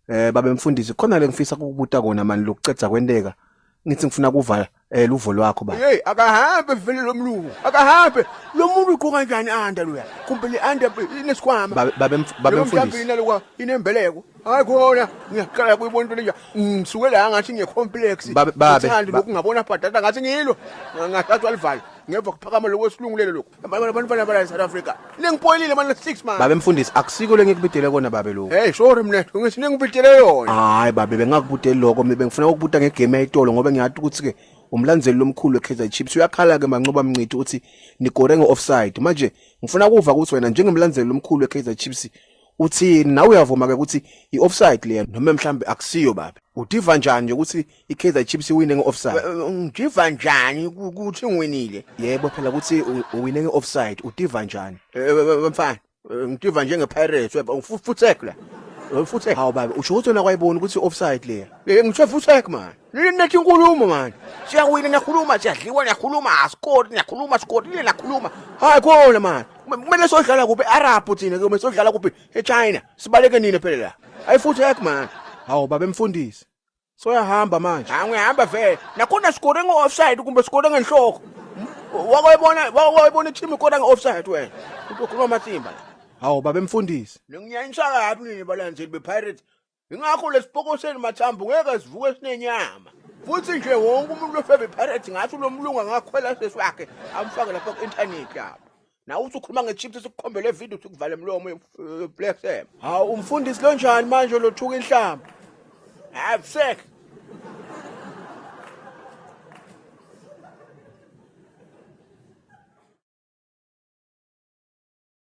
Eh babe mfundisi khona lengifisa ukubuta kona mani lokucedza kwenteka ngithi ngifuna kuva eh luvo lwakho ba. Hey akahambe vele lomlungu akahambe lomuntu ugqoka kanjani anda loya kumbe le anda inesikhwama. Babe babe mf- babe Lo mfundisi. mhlawumbe inalokwa inembeleko hayi khona ngiyaqala kuyibona into lenja ngisuke la ngathi ngiye-complex Babe- babe, Ngithanda ba- lokhu ngabona bhadada ngathi ngilo ngathathwa livalo ngemva kuphakama lokwesilungulelo lokhu abantwana bala South Africa ningipoyilile manje 6 manje babe mfundisi akusiko lengikubidele kona babe lokho hey sorry mina ngithi ningibidele yona hayi babe bengakubudeli lokho mina bengifuna ukubuta ngegame yayitolo ngoba ngiyathi ukuthi ke umlandzeli lomkhulu weKaizer Chiefs uyakhala ke mancoba mncithi uthi nigore ngeoffside manje ngifuna kuva ukuthi wena njengemlandzeli lomkhulu weKaizer Chiefs uthini nawe uyavuma ke ukuthi ioffside leya noma mhlambe akusiyo babe udiva njani ukuthi iKaizer Chiefs iwine ngeoffside ngijiva njani ukuthi ngiwinile yebo phela ukuthi u- uwine ngeoffside utiva njani Eh, eh, eh, mfana eh, ngijiva njengepirates weba ngifuthek la ngifuthek hawu baba usho ukuthi wena kwayibona ukuthi offside leya Eh, ngisho futhek mani Nini nathi inkulumo mani siyawina niyakhuluma siyadliwa niyakhuluma asikori niyakhuluma sikori nini nakhuluma hayi khona mani Kume- kumele sodlala kuphi arab thina kumele sodlala kuphi echina sibaleke nini phela la ayifuthek mani hawu baba emfundisi soyahamba manje angihamba vele nakhona sikore ngo-offside kumbe sikore ngenhloko wakwayibona wakwayibona i-team ikora nge-offside wena ukhuluma amasimba la hawu babe mfundisi ningiyanyisa kabi nini balandeli bepirates ingakho lesipoko senu mathambo ngeke sivuke sinenyama futhi nje wonke umuntu ofebe pirates ngathi lo mlungu angakhwela sesi wakhe amfake lapha ku-intanethi lapho nawe uthi ukhuluma ngechips sikukhombele video uthi kuvale mlomo blessem hawu umfundisi lo njani manje lothuka inhlamba absek